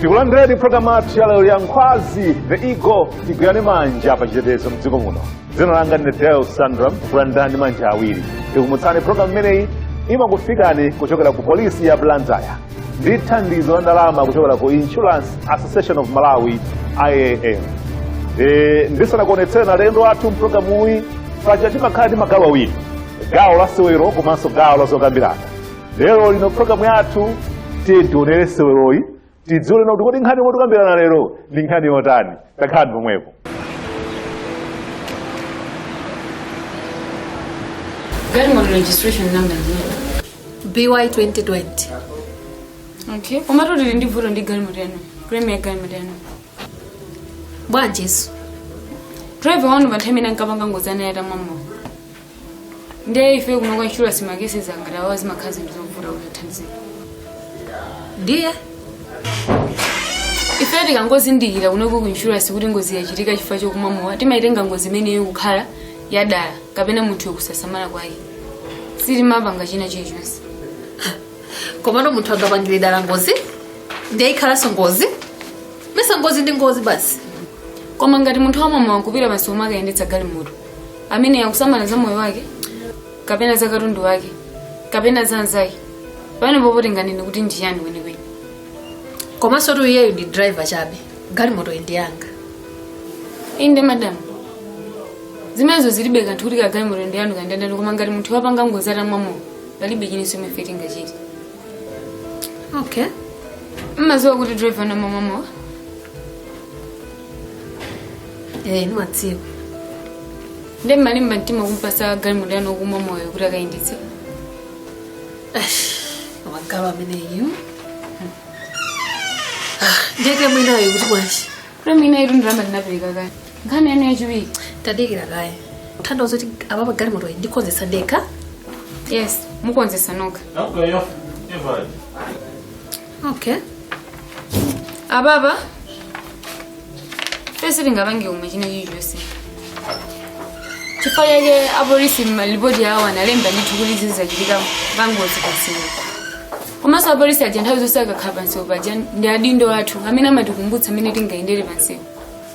tikulandireni programu yathu ya lero ya nkhwazi the eagle tigwirane manja pa chitetezo mdziko muno dzina langa ndine del sandram kulandirani ndi manja awiri tikumbutsane programu imeneyi imakufikani kuchokera ku polisi ya blantyre ndi thandizo la ndalama kuchokera ku insurance association of malawi iam Eh, ndisanakuonetsereni alendo athu mpulogalamuyi paja timakhala ndi magawo awiri gawo la sewero komanso gawo la zokambirana lero lino programu yathu tiyeni tionere seweroyi tidziwe kuti kodi nkhani yomwe tikambirana lero ndi nkhani yotani takhalani pomwepo Galimoto registration number zero. BY 2020. Okay. Komatu tili ndi vuto ndi galimoto yanu. Claim ya galimoto yanu. Bwanjinso. Driver wanu pa nthawi imene ankapanga ngozi anali atamwa mowa. ndiye ife kuno kwa insurance ma cases angati awa zimakhala zinthu zovuta kuti tithandizire ndiye ife tikangozindikira kuno ku insurance kuti ngozi yachitika chifukwa chokumwa mowa timaitenga ngozi imeneyo kukhala yadala kapena munthu yokusasamala kwake sitimapanga china chilichonse komano munthu angapangire dala ngozi ndiye ikhalanso ngozi mmesa ngozi ndi ngozi basi koma ngati munthu wamwa mowa kupita pansi pomwe akuyendetsa galimoto amene akusamala za moyo wake kapena za katundu wake kapena za anzake pamenepo poti tinganene kuti ndiyani kwenikweni komansotu iyeyu ndi driver chabe galimoto ndi yanga inde madam zimenezo zilibe kanthu kuti kaya galimoto ndi yanu kaya ndi ya ndani koma ngati munthu wapanga ngozi atamwa mowa palibe chinanso chomwe ife tingachite okay mumadziwa kuti driver wanu amamwa mowa ee nimadziwa nde mumalimba mtima kumpatsa galimoto yanu okumwa mowa kuti akayendetse magalu ameneyu ndiyetu mwinayo kuti bwanji kuti mwina itu ndalama ndinapereka kale nkhani yanu yachiwiri tadikirani kaye ndiye kuti apapa galimoto iyi ndikonzetsa ndekha yes mukonzetsa nokha Não, ganhou. E vai. okay apapa ife sitingapange pomwe china chilichonse chifukwa chake apolisi mmalipoti awo analemba ndithu kuti izi zachitika pangozi pansewu komanso apolisi aja nthawi zonse akakhala pansewu paja ndi adindo athu amene amatikumbutsa mmene tingayendere pansewu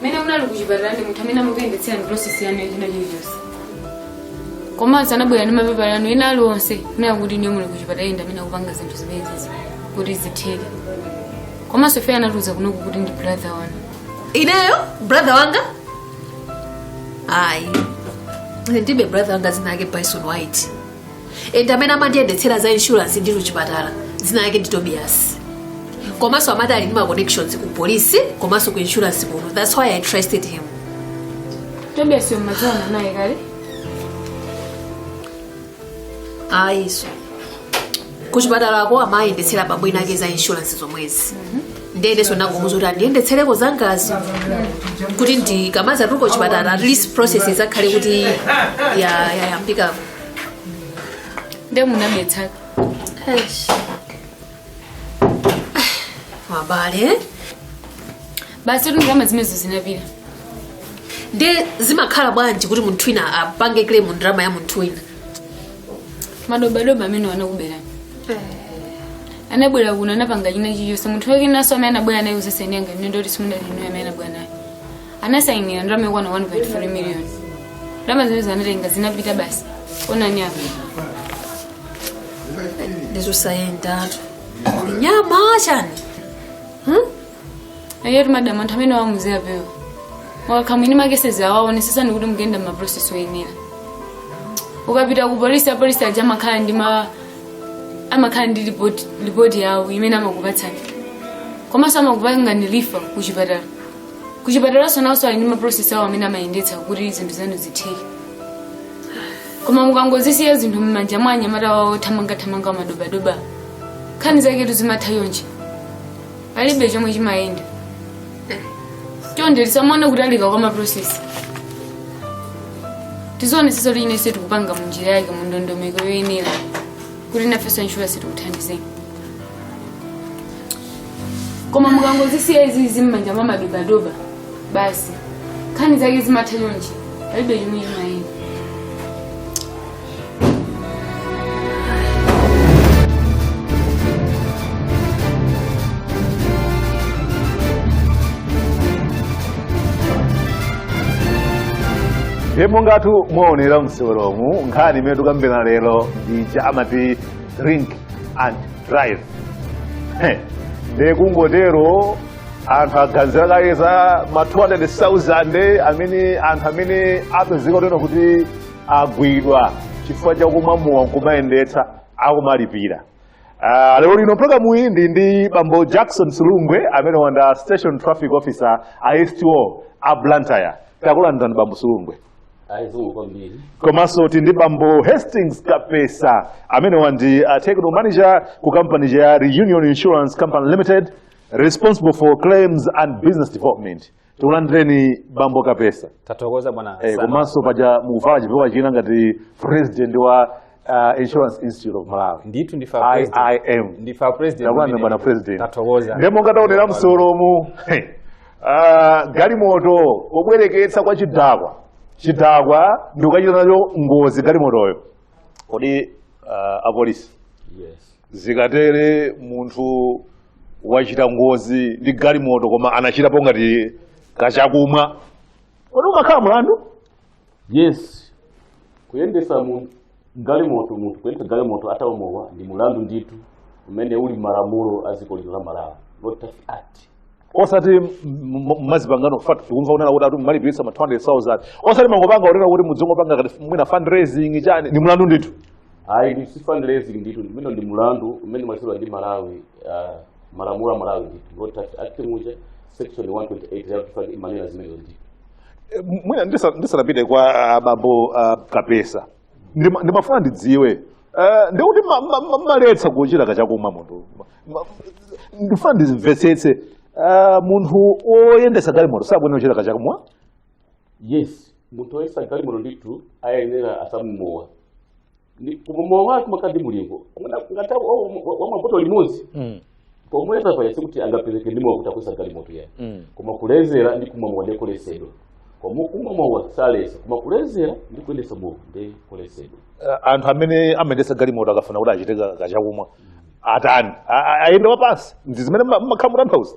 mmene munali kuchipatala pali munthu amene amakuyendetserani process yanu yachina chilichonse komanso anabwera ndi mapepala anu ena aliwonse kunena kuti inuyo muli kuchipatala ena ndi amene akupanga zinthu zimenezi kuti zitheke komanso ife anatiuza kunoku kuti ndi brother wanu ineyo brother wanga ayi ndilibe brother wanga dzina lake bison white and amene amandiyendetsera za insurance ndi kuchipatala dzina lake ndi tobias komanso amati ali ndi ma connections ku polisi komanso ku insurance kuno that's why i trusted him tobias yommaziwana naye kale ayinso kuchipatalako amayendetsera bambo ina ake za inshuransi zomwezi nde ndenso nangomuuza kuti andiyendetsereko zangazo kuti ndikamazatuluka kuchipatala at least process izakhale kuti ya- yayambikako nde munabetsaka abale basi ndalama zimenezo zinapita nde zimakhala bwanji kuti munthu wina apange claim ndalama ya munthu wina madobadoba amenewo anakuberani anabwera kuno anapanga china chilichonse munthu wake nanso amene anabwera naye usaseni anga mnendo kuti simunali inu amene anabwera naye anasayinira ndalama yokwana 1.4 million ndalama zimenezo anatenga zinapita basi onani apa ndizosayendatu nyama chani ayitu madam anthu amene awa muziwapewa mukakhala mwini makesezi awa onesesani kuti mukuyenda maprocess oyenera ukapita ku polisi apolisi aja amakhala ndi ma amakhala ndi report- report yawo imene amakupatsani komanso amakupanga refer ku chipatala ku chipatalanso nawonso ali ndi maprocess awo amene amayendetsa kuti zinthu zanu zitheke koma mukangozisiya zinthu m'manja mwa anyamata awa othamangathamanga madobadoba nkhani zaketu zimatha chonchi palibe chomwe chimayenda chonde tisamaone kutalika kwa maprosesi tizionetsetsa kuti chinachilichonse tikupanga munjira yake mu ndondomeko yoyenera kuti nafenso insurance tikuthandizeni koma mukangozisiya izizi mmanja mwa madobadoba basi nkhani zake zimatha chonchi palibe chomwe chimayenda ndiye mongatu mwaonera mseweromu nkhani imene tikambirana lero ndi ija amati drink and drive ndiye kungotero anthu aganizira kaye za ma 200,000 amene anthu amene apezeka kutero kuti agwidwa chifukwa cha kumwa mowa nkumayendetsa akumalipira Uh, lero lino mprogramu iyi tili ndi bambo jackson sulungwe amenewa ndi a station traffic officer a sto a blantyre takulandirani bambo sulungwe zikomo kwambiri komanso tili ndi bambo hastings kapesa amenewa ndi uh, technical manager ku company ya reunion insurance company limited responsible for claims and business development tikulandireni bambo kapesa tathokoza bwana Eh, Hassan. komanso paja mukuvala chipewa china ngati president wa uh, insurance institute of malawi ndithu ndife president. iim ndife president takulandireni ndine. bwana president tathokoza ndiye monga taonera msolomu uh, galimoto pobwereketsa kwa chidakwa chidakwa ndikukachita nayo ngozi galimotoyo kodi uh, apolisi yes zikatere munthu wachita ngozi ndi galimoto koma anachitapo ngati kachakumwa kodi umakhala mlandu yes kuyendesa mu galimoto munthu kuyendesa galimoto atamwa mowa ndi mulandu ndithu umene uli mmalamulo a dziko lino la malawi road traffic act osati m- m- mmazipangano chifukwatu tikumva kunena kuti anthu mmalipirisa ma 200000 osati mangopanga kunena kuti mudzingopanga ngati mwina fundraising chani ndi mulandu ndithu ayi ndi si fundraising ndithu ndimene ndi mulandu umene umachitika ndi malawi ah, malamulo a malawi ndithu road traffic act muja section 128 ya kufani imanena zimenezo ndithu Eh, m- mwina ndisa- ndisanapite kwa ah, bambo ah, kapesa Ndima- ndimafuna ndidziwe eh, ndikuti ma- ma- ma- maletsa kuchita kachakumwa munthu Ma- ma- ndifuna ndimvetsetse ah, munthu oyendesa galimoto sakuyenera kuchita kachakumwa yes munthu oyendesa galimoto ndithu ayenera asamwe mowa Ndi- koma mowa wake umakhaladi mulingo ngati wamapoto limodzi Mm. pomuyeza payasi kuti angapezeke ndi mowa kuti akuyendesa galimoto yayi Mm. koma kulezera ndi kumwa mowa ndikolesedwa koma kumwa mowa salesa koma kulezera ndi kuyendesa mowa ndikolesedwa Eh, anthu amene amayendesa galimoto akafuna kuti achite ka- kachakumwa atani A- a- aziyenda wapansi ndi zimene mmakhala mutanthauza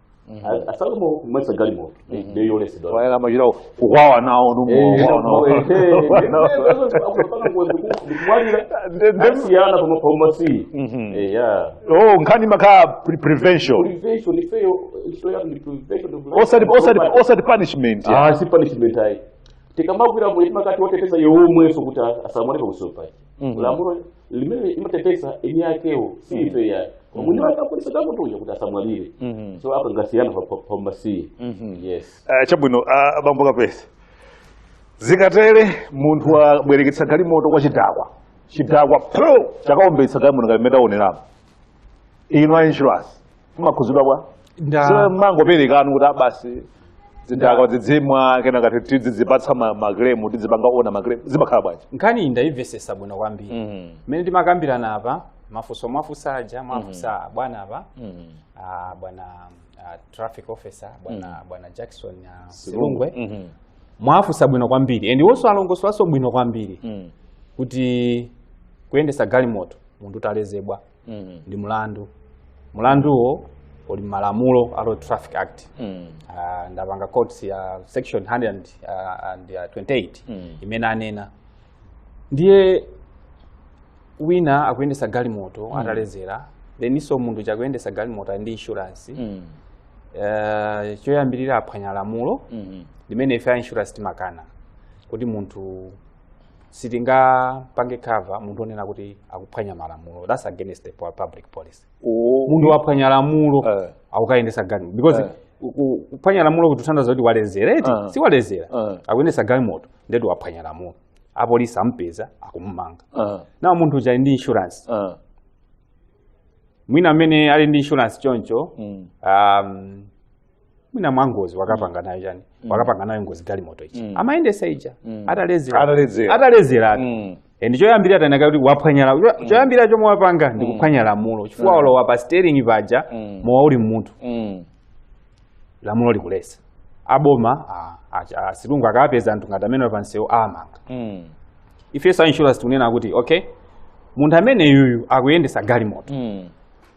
A- asalombo kuyendetsa galimoto ndiyo yoletsedwa wayala machira kukwawa nawo asiyana pamaphaumasiyi eya oh nkhani imakhala pre- prevention prevention ifeyo ntchito yathu ndi prevention of life. osati osati osati punishment ya. Ah, si punishment ayi tikamagwira munthu timakhala wateteza yomweso kuti asamwaleka kusopa lamulo limene limateteza eni akewo si ife yayi mwini wake apolisi takuteteza kuti asamwalire Mhm. so apa ngasiyana pa- pa- pambasiye Mhm. yes Ah, chabwino ah, bambo kapesa zikatere munthu wabwereketsa galimoto kwa chidakwa chidakwa pro chakaombetsa galimoto ngati mmene taoneramo inu a insurance mmakhuzidwa bwa Nda- so mmangopereka inu kuti abasi zidakwa zidzimwa kenaka tidzipatsa ma claim tidzipanga honour ma claim zimakhala bwanji nkhani iyi ndayimvesesa bwino kwambiri Mhm. mmene timakambirana apa mafunso mwafunsa aja mwafunsa abwana apa Mhm. ah, bwana ah, traffic officer bwana bwana jackson ah, silungwe Mhm. mwafunsa bwino kwambiri and iwonso alongosolanso bwino kwambiri Mhm. kuti kuyendesa galimoto munthu utalezela mm. ndi mlandu mlanduwo uli malamulo a road traffic act mm. uh, ndapanga quote ya section 100 and, uh, and uh, 28 mm. imene anena ndiye wina akuyendesa galimoto mm. atalezera thenso munthu chakuyendesa galimoto ali ndi insurance mm. uh, choyambirira aphwanya lamulo mm -hmm. limene ife a insurance timakana kuti munthu sitingapange cover munthu onena kuti akuphwanya malamulo that's against the po- public policy Oh, munthu waphwanya lamulo Eh. akukayendesa galimoto because Eh. ku- ku- kuphwanya lamulo kutanthauza kuti walezera eti Eh. si walezera Eh. akuyendesa galimoto ndeti waphwanya lamulo apolisi ampeza akumumanga ah, now munthu uja ali ndi insurance ah, mwina mmene ali ndi insurance choncho mm, um, mwina mwangozi wakapanga nayo chani wakapanga nayo ngozi galimoto ichi Mm. amayendesa ija Mm. atalezera Ataledzera. atalezera Mm. Eh, ndi choyambirira tanaka kuti waphwanyala cho- choyambirira chomwe wapanga ndi kuphwanya lamulo chifukwa walowa pa steering paja Mm. mowa uli mmutu Mm. lamulo likuletsa aboma ah, ah, asilikali akapeza anthu ngati amene pamsewu amamanga Mm. ifeso a insurance tikunena kuti okay munthu ameneyuyu akuyendesa galimoto Mm.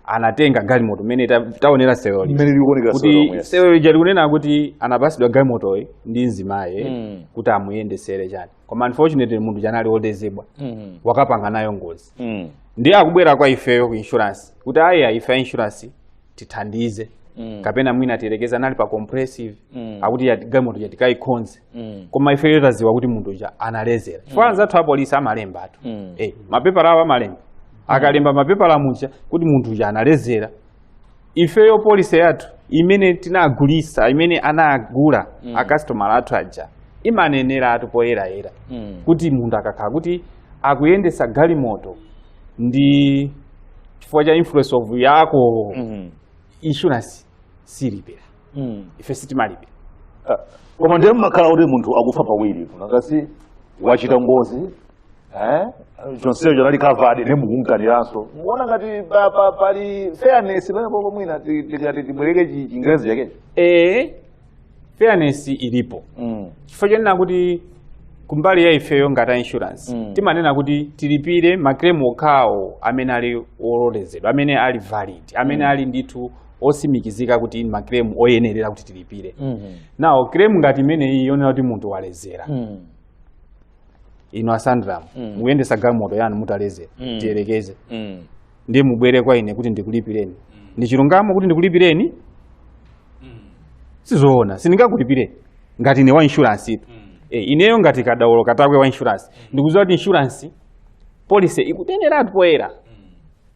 anatenga galimoto mmene ta- taonera seweroli mmene likuonekera kuti sewero yes. sewero lija likunena kuti anapasidwa galimotoyi ndi mzimayi Mm. kuti amuyendesere chani koma unfortunately munthu uja anali woledzera Mhm. wakapanga nayo ngozi Mm. ndiye akubwera kwa ifeyo ku insurance kuti aya ife a insurance tithandize Mm. kapena mwina tiyerekeze anali pa comprehensive Mm. akuti yati- galimoto ija tikayikonze Mm. koma ifeyo taziwa kuti munthu uja analezera chifukwa anzathu apolisi amalembatu Mm. eh, mapepala awo amalemba akalemba mapepala muja kuti munthu uja analezera ifeyo policy yathu imene tinagulisa imene anagula mm. akasitomala athu aja imaneneratu poyerayera Mm. kuti munthu akakhala kuti akuyendesa galimoto ndi chifukwa cha influence of ya alcohol Mhm. insurance silipira mm. ife sitimalipira ah, koma ndiye mmakhala kuti munthu akufa pawiri nanga si wachita ngozi eh? chonsecho anali covered nde mukumukaniranso muona ngati pali fairness pamenepopo mwina tikati tibwereke chingerezi chakecho ee fairness ilipo mm. chifukwa chonena kuti kumbali ya ifeyo ngati a insurance mm. timanena kuti tilipire ma claim okhawo amene ali ololezedwa amene ali valid amene mm. ali ndithu osimikizika kuti ndi ma claim oyenerera kuti tilipire Mhm. now claim ngati imeneyi yonena kuti munthu walezera Mhm. inu a Sandram Mm. mukuyendesa galimoto yanu mutalezera Mm. tiyerekeze Mhm. ndiye mubwere kwa ine kuti ndikulipireni ndi chilungamo kuti ndikulipireni sizoona sindingakulipireni ngati ine wa insurance tu e, ineyo ngati kadaulo katakwe wa insurance ndikuziwa kuti insurance policy ikuneneratu poyera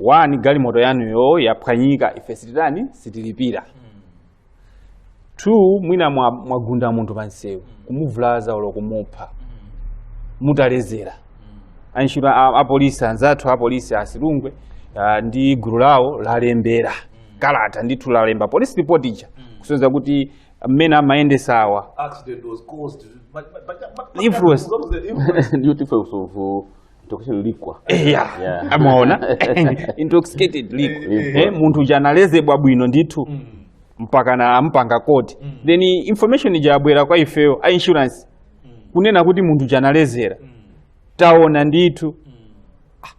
one galimoto yanuyo yaphwanyika ife sititani sitilipira two mwina mwa- mwagunda munthu pansewu kumuvulaza olo kumupha mutalezera antchito a- apolisi anzathu apolisi a silungwe ah, ndi gulu lawo lalembera kalata ndithu lalemba police report ija kusonyeza kuti mmene amayendesawa accident was caused by, by, by, by, by Influence. What was the influence? ndiyoti ife kusovu Intoxication liquor. Eh, ya. Yeah. amaona intoxicated liquor Liquor. eh, munthu uja anayezedwa bwino ndithu mpakana ampanga koti then information ija abwera kwa ifeyo a insurance kunena kuti munthu uja analezera taona ndithu Ah,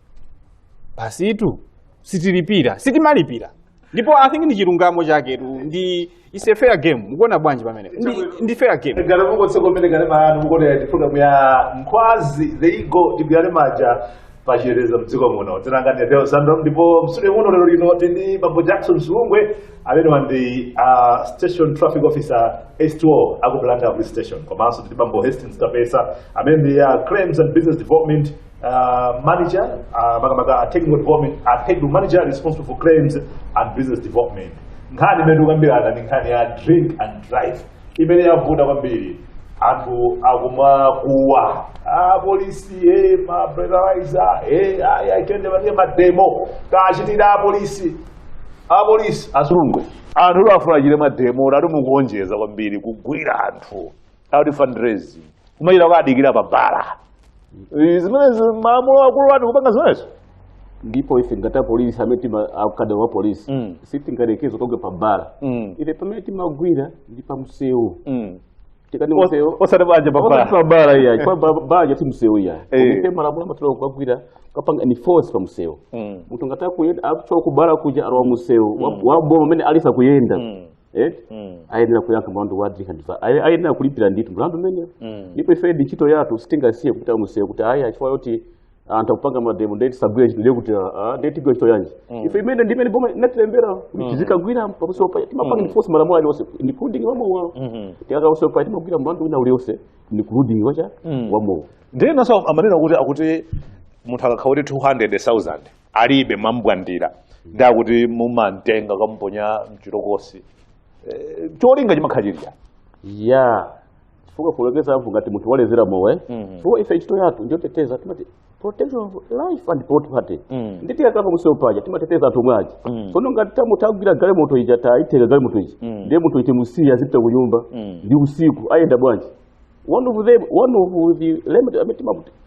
basitu sitilipira sitimalipira ndipo i think ndi chilungamo chaketu ndi is a fair game mukuona bwanji pamene ndi, ndi fair game ngati mukutsegula kumene kanema wanu mukuonera ndi programu ya nkhwazi the eagle tigwirane manja pachitetezo mdziko muno dzina langa ndi deus sandram ndipo mstudio muno lero lino tili ndi bambo jackson silungwe amenewa ndi uh, station traffic officer sto a ku blantyre police station komanso tili ndi bambo hastings kapesa amene ndi uh, claims and business development uh, manager uh, makamaka a technical development a technical manager responsible for claims and business development nkhani imene tikukambirana ndi nkhani ya drink and drive imene yavuta kwambiri anthu akumakuwa apolisi e ma breathalyzer e aitendemanie mademo kachitira apolisi apolisi a silungwe anthu afuna achite mademo ati mukuonjeza kwambiri kugwira anthu akuti fundraising kumachita kukadikira pa bala Eh, zimenezi malamulo sakulola kupanga zimenezo ndipo ife ngati apolisi amene tima akada wa polisi Mm. sitingayerekeze kugwira pa bala Mm. ife pamene timagwira ndi pa msewu Mm. tikati Os- msewu osati banja pa Osati bala pa bala iyayi pa ba- bala si msewu iyayi Eh. ife malamulo amatilola kugwira kupanga enforce pa msewu Mm. munthu ngati akuyenda akuchoka kubala kuja ali pa msewu wa- wa boma amene aliyense akuyenda Mm. eti Mm. ayenera kuyankha mlandu wa drink and drive aye- ayenera kulipira ndithu mlandu umenewo Mm. ndipo ife ndi ntchito yathu sitingasiye kupita kumsewu kuti ayi achifukwa yoti anthu akupanga mademo nde tisagwire ntchito ndiye kuti ah, nde tigwira ntchito yanji ife imene ndimene boma inatilembera kuti tizikagwira pamsewupa timapanga enforce malamulo alionse including wamowa Mhm. tikakhala pamsewupa timagwira mlandu wina ulionse including wachani Mm. wamowa ndiye enanso amanena kuti akuti munthu akakhala kuti 200000 alibe mwambwandira ndi akuti mumamtenga kukamuponya mchitokosi Eh, cholinga chimakhala chili chani ya chifukwa poyerekeza apo ngati munthu walezera mowa Mhm. chifukwa ife ntchito yathu ndiyoteteza timati protection of life and property Mhm. nde tikakhala pamsewu paja timateteza anthu omwe aja Mhm. tsono ngati tamu- tagwira galimoto ija taitenga galimoto ija Mhm. ndiye munthu timusiya azipita ku nyumba Mhm. ndi usiku ayenda bwanji one of them one of the limited amene timaputi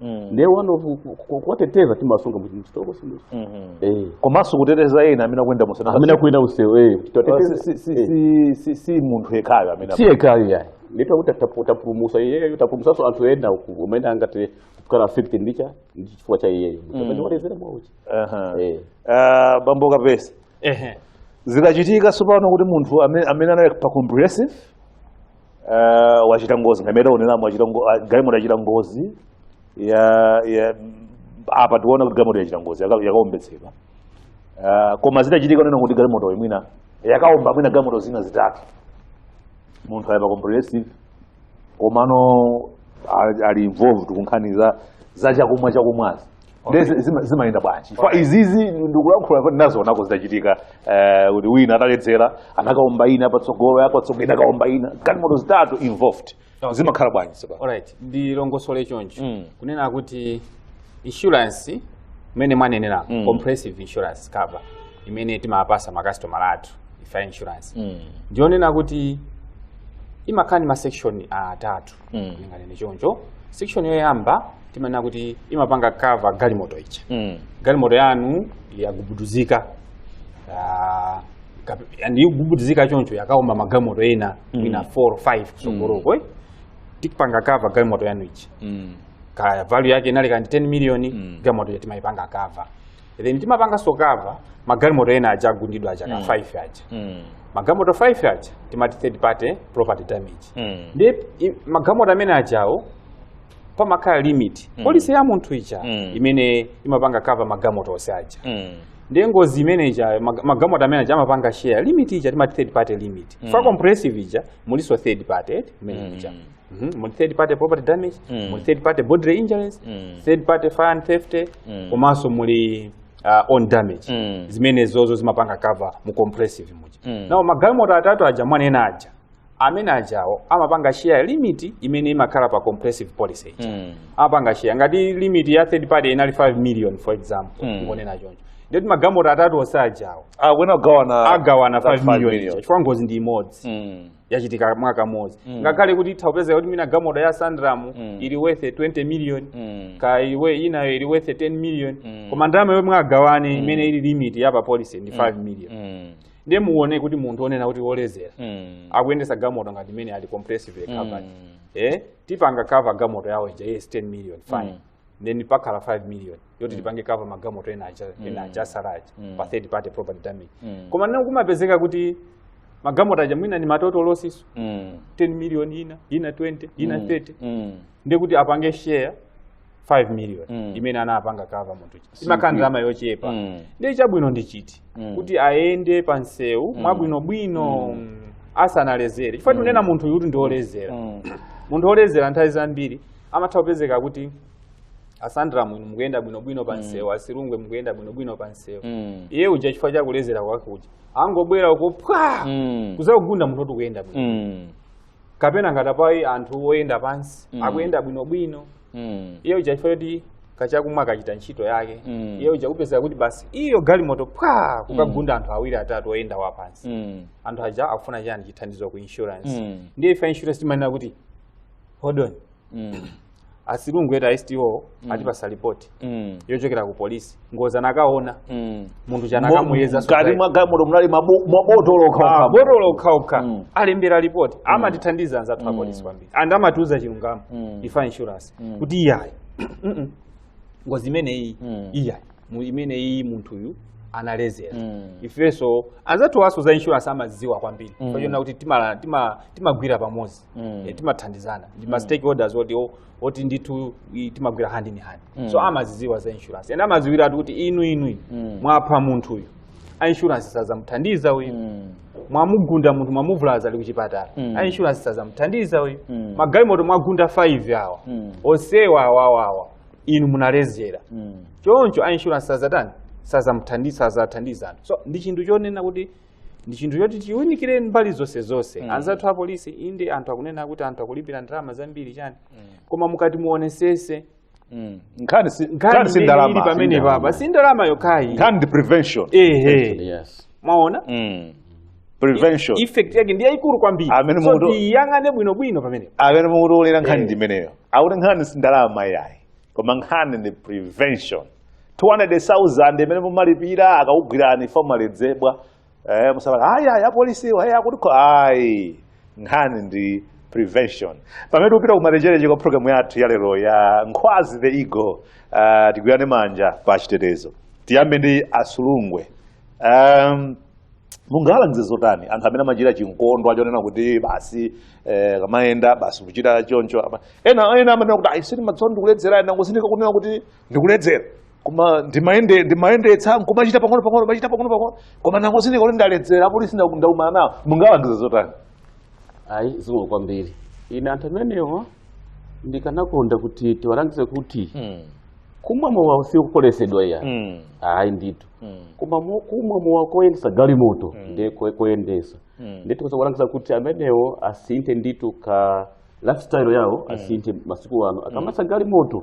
Mm. ndiye one way of ku- ku- kuwateteza timasunga mchitoko simuja Mhm. eh komanso kuteteza ena amene akuyenda mu msewu. amene akuyenda mu msewu eh kuti Ora, tiwateteze si- si- si- si- si- si munthu yekhayo amene si yekhayo yayi ndiye kuti tapu- tapulumusa iyeyo tapulumusanso anthu ena uku umene angati kukhala affected ndi cha ndi chifukwa cha iyeyo amene waledzera mwauchi Aha. eh Ah, bambo Kapesa ehe zikachitika tsopano kuti munthu amene amene anali pa comprehensive uh, wachita ngozi ngati mmene taoneramu wachita ngo- ah, galimoto yachita ngozi ya ya apa tiona kuti galimoto yachita ngozi yaka- yakaombetsedwa Ah, koma zitachitika kunena kuti galimotoyi mwina yakaomba mwina galimoto zina zitatu munthu ali pa comprehensive komano ali- ali involved kunkhani za za chakumwa chakumwazi ndiye zi- zima- zimayenda bwanji chifukwa Okay. izizi ndikulankhula ndinazionako zitachitika eh, kuti wina ataledzera anakaomba ina patsogolo yapatsogolo ina inakaomba ina galimoto zitatu involved Okay. zimakhala bwanji tsopano alright ndilongosole choncho Mm. kunena kuti insurance imene mwanenera Mm. comprehensive insurance cover imene timapasa makasitomala athu ife a insurance Mm. ndiyonena kuti imakhala ndi masection atatu Mm. ndinganene choncho section yoyamba timanena kuti imapanga cover galimoto ija Mm. galimoto yanu yagubuduzika ah, kape- and yagubuduzika choncho yakaomba magalimoto ena Mm. ina 4 or 5 kutsogoloko eh? tikupanga cover galimoto yanu ija Mm. kaya value yake inali ya ndi 10 million Mm. galimoto timayipanga cover then timapanganso cover magalimoto ena aja agundidwa aja ka 5 aja Mm. magalimoto 5 aja timati third party property damage Mm. ndi i- magalimoto amene ajawo pamakhala limit pa policy ya munthu ija Mm. imene imapanga cover magalimoto onse aja Mm. ndi ngozi imene ija mag- magalimoto amene aja amapanga share limit ija timati third party limit for comprehensive ija mulinso third party imene ija Mhm, muli third party property damage Mm. muli third party bodily injuries Mm. third party fire and theft Mm. komanso muli uh, own damage Mm. zimenezozo timapanga cover mu comprehensive muja Mm. now magalimoto atatu aja mwanena aja amene ajawo amapanga share limit imene imakhala pa comprehensive policy ija Mm. amapanga share ngati limit ya third party inali 5 million for example Mm. ndingonena choncho ndikuti magalimoto atatu onse ajawo Ah, wena ugawana agawana that 5 five million ija chifukwa ngozi ndi imodzi Mm. yachitika mwakamodzi Mm. ngakhale kuti itha kupezeka kuti mwina galimoto ya a Sandram Mm. ili worth 20 million Mm. kaya inayo ili worth 10 million Mm. koma ndalama yomwe agawane imene ili limit ya pa policy ndi 5 million Mm. ndiye muone kuti munthu onena kuti woledzera Mm. akuyendetsa galimoto ngati imene ali comprehensive covered Mm. eh tipanga cover galimoto yawo ija yes 10 million fine Mm. then pakhala 5 million yoti tipange cover magalimoto ena aja ena aja atsala aja pa third party property damage koma nene kumapezeka kuti magalimoto aja mwina ndi ma total losses Mm. 10 million ina ina 20 ina 30 Mm. ndiye kuti apange share 5 million Mm. imene anapanga cover munthu uja imakhala ndalama yochepa Mm. ndiye chabwino ndi chiti Mm. kuti ayende pa msewu mwabwinobwino mm, asanalezere chifukwa tinena munthuyu ndi woti ndi olezera Mm. munthu olezera nthawi zambiri amatha kupezeka kuti a Sandram mukuyenda bwinobwino pa msewu a Silungwe mukuyenda bwinobwino pa msewu Mm. iye uja chifukwa cha kulezera kwake uja angobwera uko pwa Mm. kuzakugunda munthu oti akuyenda bwino Mm. kapena ngati apa anthu oyenda pansi Mm. akuyenda bwinobwino Mm. iye uja chifukwa choti kachakumwa kachita ntchito yake Mm. iye uja kupezeka kuti basi iyo galimoto pwa kukagunda anthu awiri atatu oyenda pansi Mm. anthu aja akufuna chani chithandizo ku insurance Mm. ndiye ife insurance timanena kuti hold on Mm. a Silungwe eti a STO atipasa lipoti Mm. yochokera ku polisi ngozi anakaona Mm. munthu uja anakamuyeza mkati mwa galimoto munali mabu- mabotolo okhaokha botolo okhaokha Mm. alembera lipoti amatithandiza anzathu a polisi kwambiri and amatiuza chilungamo Mm. ife a insurance Mm. kuti iyayi Mm-mm. ngozi imeneyi Mm. iyayi mu- imeneyi munthuyu analezera Mm. ifenso anzathu awanso za insurance amazidziwa kwambiri Mm. pochoona kuti timala- tima- timagwira pamodzi Mm. Eh, timathandizana ndi ma stakeholders oti o- oti ndithu i- timagwira hand in hand Mm. so amazidziwa za insurance and amadziwiratu kuti inu inu inu Mm. mwapha munthu uyu a insurance sazamuthandiza uyu Mm. mwamugunda munthu mwamuvulaza ali kuchipatala Mm. a insurance sazamuthandiza uyu Mm. magalimoto mwagunda 5 awa Mm. onsewa awawawa inu munalezera Mm. choncho a insurance sazatani sazamuthandiza sazathandiza anthu so ndi chinthu chonena kuti ndi chinthu choti tiunikire mbali zonse zonse Mm. anzathu a polisi inde anthu akunena kuti anthu akulipira ndalama zambiri chani koma mukati muonesese Mm. nkhani si nkhani nkhani si imene ndalama ili pamenepapa si ndalama yokhayi nkhani ndi prevention ehe yes mwaona Mm. prevention effect yake ndi yayikulu kwambiri Amene so mukuti- tiyang'ane bwinobwino pamenepa amene mukutionera nkhani Eh. ndi imeneyo akuti nkhani si ndalama yayi koma nkhani ndi prevention 200,000 imene mumalipira akakugwirani kumaledzeredwe eh, musabala ayi ayi apolisiwa ayi akuti kho- ayi nkhani ndi prevention pamene tikupita kumalecheleche kwa programu yathu ya lero ya nkhwazi the eagle uh, tigwirane manja pa chitetezo tiyambe ndi a Silungwe um, mungalangize zotani anthu amene amachita chikondi chonena kuti basi eh, kumayenda basi kuchita choncho ama- ena ena amanena kuti ayi sini matsondi kuledzera ena kusindika kunena kuti ndikuledzera koma ndimayende ndimayendetsa nkumachita pang'ono pang'ono machita pang'ono pang'ono koma ndangozindikira kuti ndaledzera apolisi nda- ndaumana nawo mungalangiza zotani ayi zikomo kwambiri ine anthu amenewa ndikanakonda kuti tiwalangize kuti kumwa mowa usiku sikukuletsedwa iya ayi ndithu koma mo- kumwa mowa koyendesa galimoto ndiye ko- koyendesa ndiye tikoza kulangiza kuti amenewo asinthe ndithu ka lifestyle yawo asinthe masiku ano akamayendesa galimoto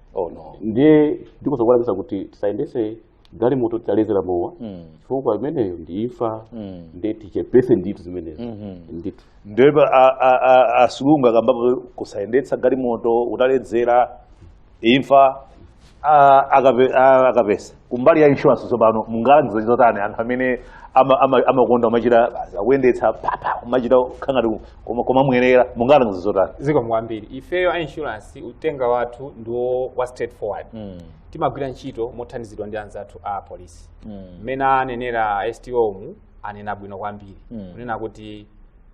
oh no ndiye ndingokulangiza kuti tisayendese galimoto titalezera mowa Mm. chifukwa imeneyo ndi imfa Mm. ndiye tichepese ndithu zimenezo Mhm. ndithu ndiye pa- a- a- a- Asurungu akambapo kusayendetsa galimoto utaledzera imfa a- akape- a- akapesa kumbali ya insurance tsopano mungalangize zotani anthu amene ama- ama- amakonda kumachita basi, akuyendetsa papa kumachita ngati kumamwerera mungalangize zotani zikomo kwambiri ifeyo a insurance uthenga wathu ndiwo wa straightforward timagwira ntchito mothandizidwa ndi anzathu a polisi mmene anenera STO umu anena bwino kwambiri kunena kuti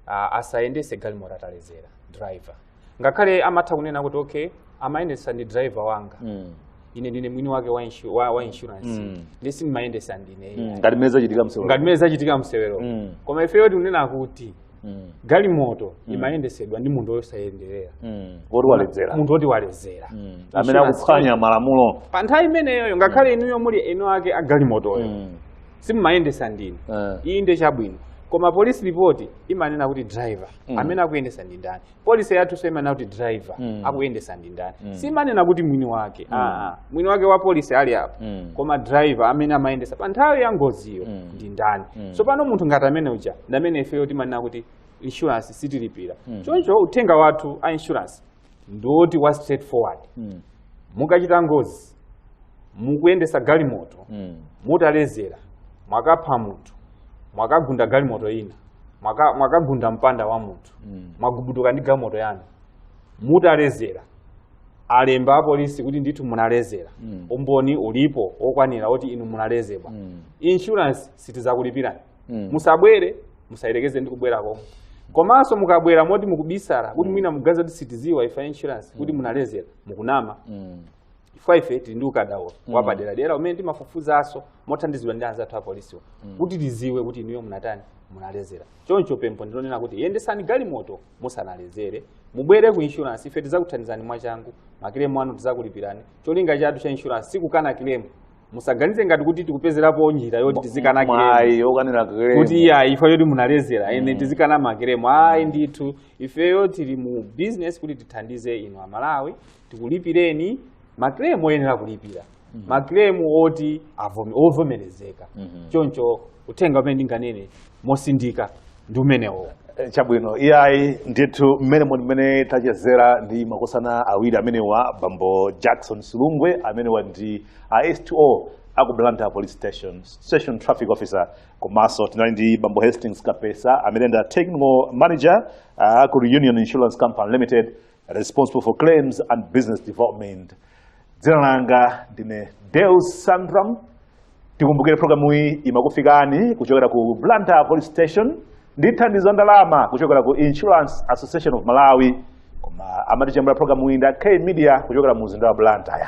ah, asayendese galimoto atalezera driver ngakhale mumatha kunena kuti okay amayendesa ndi driver wanga Mm. ine ndine mwini wake wa, inshu, wa, wa insurance Mm. ndiye sindimayendesa ndine Mm. mm. ngati mmene zachitika msewero ngati mmene zachitika msewero Mm. koma ifeyo tikunena kuti Mm. galimoto imayendesedwa ndi munthu wosayenerera Mm. woti waledzera munthu woti waledzera Mm. Insurance. amene akuphwanya malamulo pa nthawi imeneyoyo ngakhale inuyo muli eni ake a galimotoyo Mm. simumayendesa ndinu Eh. ayi ndi chabwino koma police report imanena kuti driver Mm. amene akuyendesa ndi ndani policy yathunso imanena kuti driver Mm. akuyendesa ndi ndani Mm. siimanena kuti mwini wake Mm. ah, ah. mwini wake wa policy ali apo Mm. koma driver amene amayendesa pa nthawi ya ngoziyo Mm. ndi ndani Mm. tsopano munthu ngati amene uja ndamene ifeyo timanena kuti insurance sitilipira Mm. choncho uthenga wathu a insurance ndiwoti wa straight forward mm. mukachita ngozi mukuyendesa galimoto mm. mutalezera mwakapha munthu mwakagunda galimoto ina mwaka, mwakagunda mpanda wa munthu mm. mwagubuduka ndi galimoto yanu mutalezera alemba apolisi kuti ndithu munalezera mm. umboni ulipo okwanira oti inu munalezera mm. insurance sitizakulipirani Mm. musabwere musayerekeze ndi kubwera komwe komanso mukabwera moti mukubisala kuti mwina muganiza kuti sitiziwa ife a insurance kuti munalezera mukunama Mm. chifukwa ife tili ndi ukadaulo wapaderadera umene timafufuzanso mothandizidwa ndi anzathu apolisiwo kuti tiziwe kuti inuyo munatani munalezera choncho pempho ndilonena kuti yendesani galimoto musanalezere mubwere ku insurance ife tizakuthandizani mwachangu makilemu anu tizakulipirani cholinga chathu cha insurance sikukana kilemu musaganize ngati kuti tikupezerapo njira yoti tizikana kiremu mwayi yokanira kiremu kuti iya ife yoti munaledzera ene tizikana makiremu ayi ndithu ifeyo tili mu business kuti tithandize inu amalawi tikulipireni makiremu oyenera kulipira makiremu oti avome- ovomerezeka choncho uthenga umene ndinganene mosindika ndi umenewo Eh, chabwino iyayi ndithu mmene muli mmene tachezera ndi makosana awiri amenewa bambo jackson silungwe amenewa ndi a sto aku blantyre police station station traffic officer komanso tinali ndi bambo hastings kapesa amene ndi a technical manager ah, aku reunion insurance company limited responsible for claims and business development dzina langa ndine deus sandram tikumbukire programu iyi imakufikani kuchokera ku blantyre police station ndi thandizo la ndalama kuchokera ku insurance association of malawi koma amatichemerera programu iyi ndi a k media kuchokera mu mzinda wa blantyre